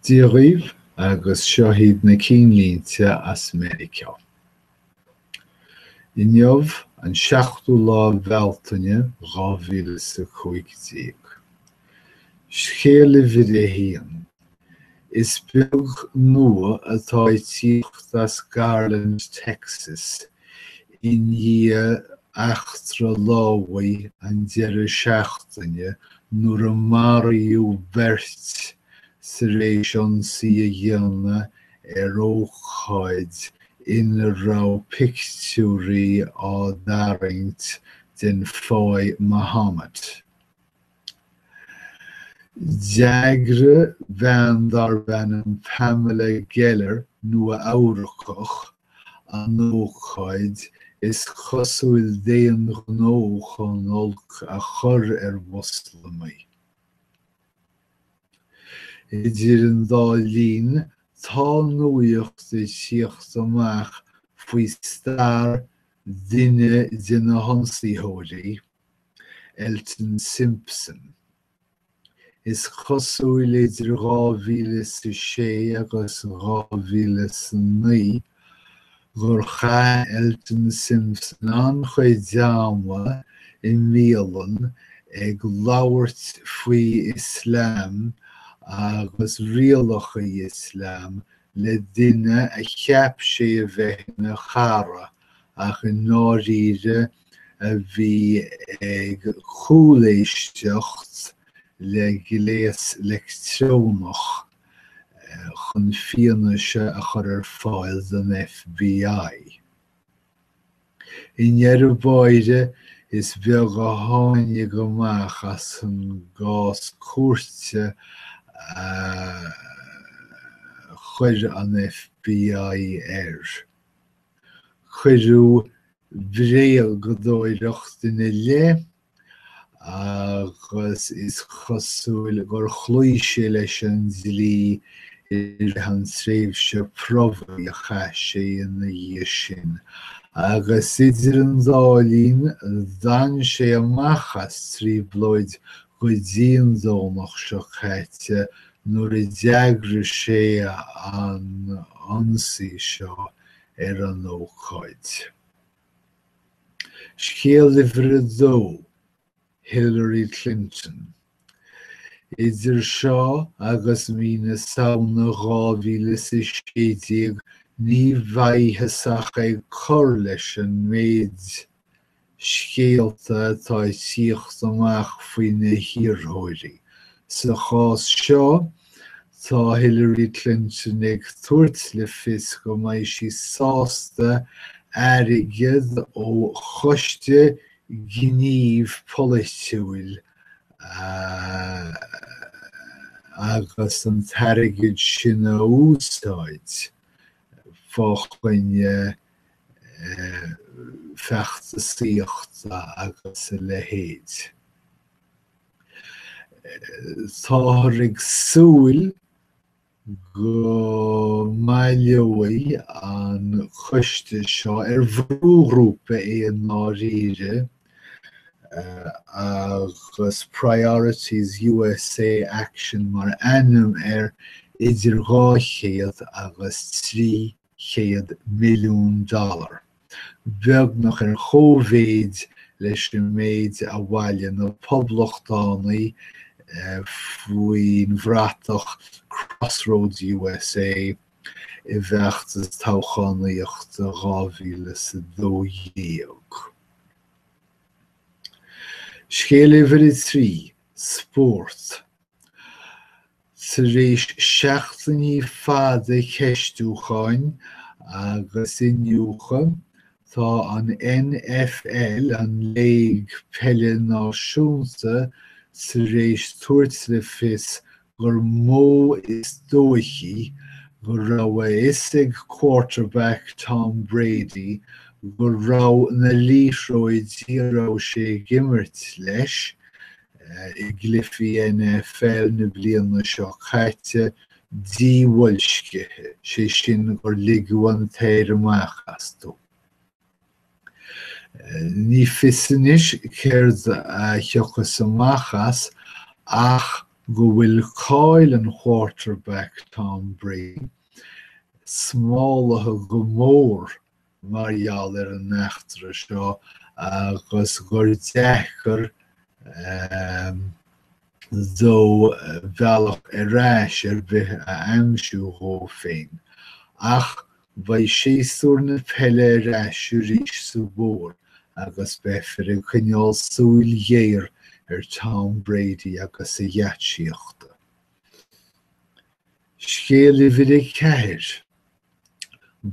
Dia dhaoibh agus seo hiad na cinnlínte as Meiriceá. Inniu an 7ú lá Bealtaine 2015. Scéal uimhir a haon, Is beag nua atá ag tíocht as Garland, Texas I ndiaidh eachtra lámhaigh an deireadh seachtaine nuair a maraíodh beirt tar éis ionsaí a dhéanamh ar ócáid ina raibh pictiúirí á dtarraingt den Fáidh Muhammad, D'eagraigh bean darb ainm Pamela Geller, Nua-Eabhracach, an ócáid is cosúil d'aon ghnó chun olc a chur ar Mhoslamaigh. Idir an dá linn, tá nuacht ag tíocht amach faoi stair duine de na hionsaitheoirí, Elton Simpson. Is cosúil idir 2006 agus 2009 gur chaith Elton Simpson an-chuid ama i mbialann ag labhairt faoi Islam agus rialacha Islam le duine a cheap sé a bheith ina chara ach i ndáiríre a bhí ag cúléisteacht le gléas leictreonach chun fianaise a chur ar fáil don FBI. I ndeireadh báire, is beag a tháinig amach as an gcás cúirte a chuir an FBI air. Cuireadh bréagadóireacht ina leith agus is cosúil gur chloígh sé leis an dlí i rith an tréimhse promhaidh a chaith sé ina dhiaidh sin, agus idir an dá linn d'fhan sé amach as trioblóid go dtí an Domhnach seo caite nuair a d'eagraigh sé an ionsaí seo ar an ócáid. Scéal uimhir a dó, Hillary Clinton. Idir seo agus mí na Samhna 2016 ní bheifear ach ag cur leis an méid, scéalta atá ag tíocht amach faoi na hiarrthóirí. Sa chás seo, tá Hillary Clinton ag tabhairt le fios go mbeidh sí sásta airgid ó Choiste Gnímh Polaitiúil a agus an t-airgead sin a úsáid fá choinne feachtasaíochta agus a leithéid. Táthar ag súil go mbaileoidh an coiste seo, ar bhrúghrúpa é i ndáiríre, agus Priorities USA Action mar ainm air, idir 200 agus 3 100 milliún dollar, beagnach ar chomh-mhéid leis an méid a bhailigh na Poblachtánaigh faoin bhratach Crossroads USA i bhfeachtas toghchánaíochta 2012. Scéal uimhir a trí, spórt. Tar éis seachtainí fada ceistiúcháin agus iniúchadh, tá an NFL, an Léig Peile Náisiúnta, tar éis tabhairt le fios gur mó is dóichí go raibh a fhios ag quarterback Tom Brady go raibh na liathróidí a raibh sé ag imirt leis i gcluichí NFL na bliana seo caite, díbhoilscithe, sé sin gur ligeadh an t-aer amach astu. Ní fios anois céard a thiocfas amach as ach go bhfuil cáil an Quarterback Tom Brady smálaithe go mór mar gheall ar an eachtra seo agus gur deacair dó bealach ar ais ar bith a aimsiú dhó féin. Ach beidh séasúr na peile ar ais arís sa bhfómhar agus beifear ag coinneáil súil ghéar ar Tom Brady agus a gheaitsíochta. Scéal uimhir a ceathair.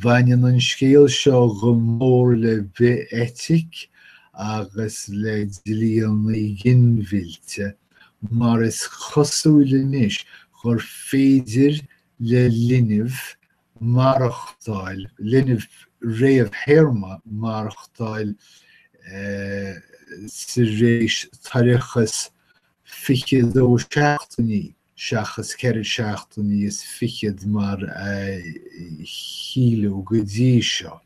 Bhaineann an scéal seo go mór le bith-eitic agus le dlí an ghinmhillte mar is cosúil anois gur féidir le linbh maireachtáil, linbh réamhthéarma maireachtáil tar éis toircheas 22 seachtainí. seachas ceithre seachtainí is fichead mar a síleadh go dtí seo.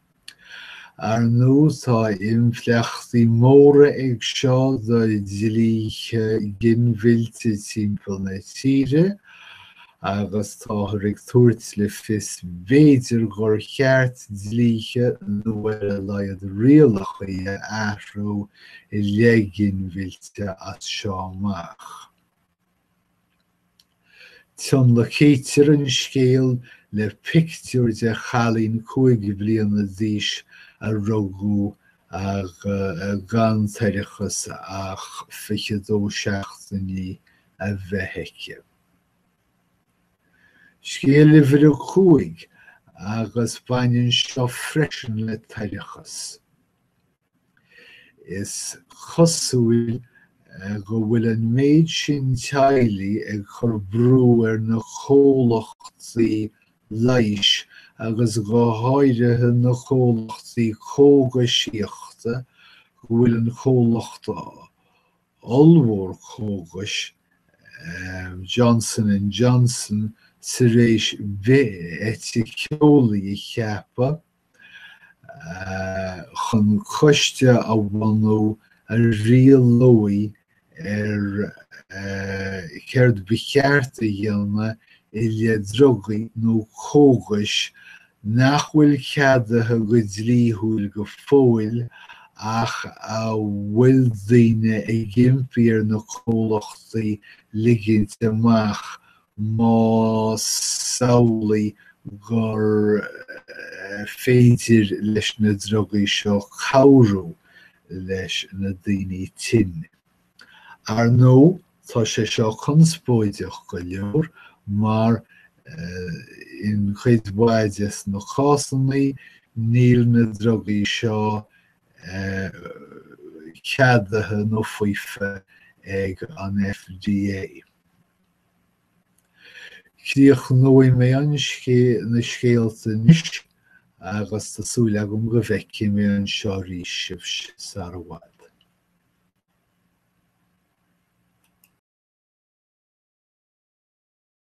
Ar ndóigh, tá impleachtaí móra ag seo do dhlíthe ginmhillte timpeall na tíre agus táthar ag tabhairt le fios b'fhéidir gur cheart dlíthe nó ar a laghad rialacha a athrú i leith ginmhillte as seo amach. Tionlacaítear an scéal le pictiúr de chailín cúig bliana d'aois a rugadh ag gan toircheas ach fiche dó seachtainí a bheith aici. Scéal uimhir a cúig agus baineann seo freisin le toircheas. Is cosúil go bhfuil an méid sin teaghlaigh ag cur brú ar na comhlachtaí leighis agus go háirithe na comhlachtaí cógaisíochta go bhfuil an comhlacht ollmhór cógais, Johnson and Johnson, tar éis bith-eiticiolaí a cheapadh. chun coiste a bhunú a rialóidh ar céard ba cheart a dhéanamh i leith drugaí nó cógais nach bhfuil ceadaithe go dlíthiúil go fóill ach a bhfuil daoine ag impí ar na comhlachtaí ligint amach más amhlaidh gur féidir leis na drugaí seo cabhrú leis na daoine tinn. Ar ndóigh, tá sé seo conspóideach go leor mar, in cuid mhaith de na cásannaí, níl na drugaí seo ceadaithe nó faofa ag an FDA. Críochnóidh mé na scéalta anois agus tá súil agam go bhfeicfidh mé anseo arís sibh sar i bhfad.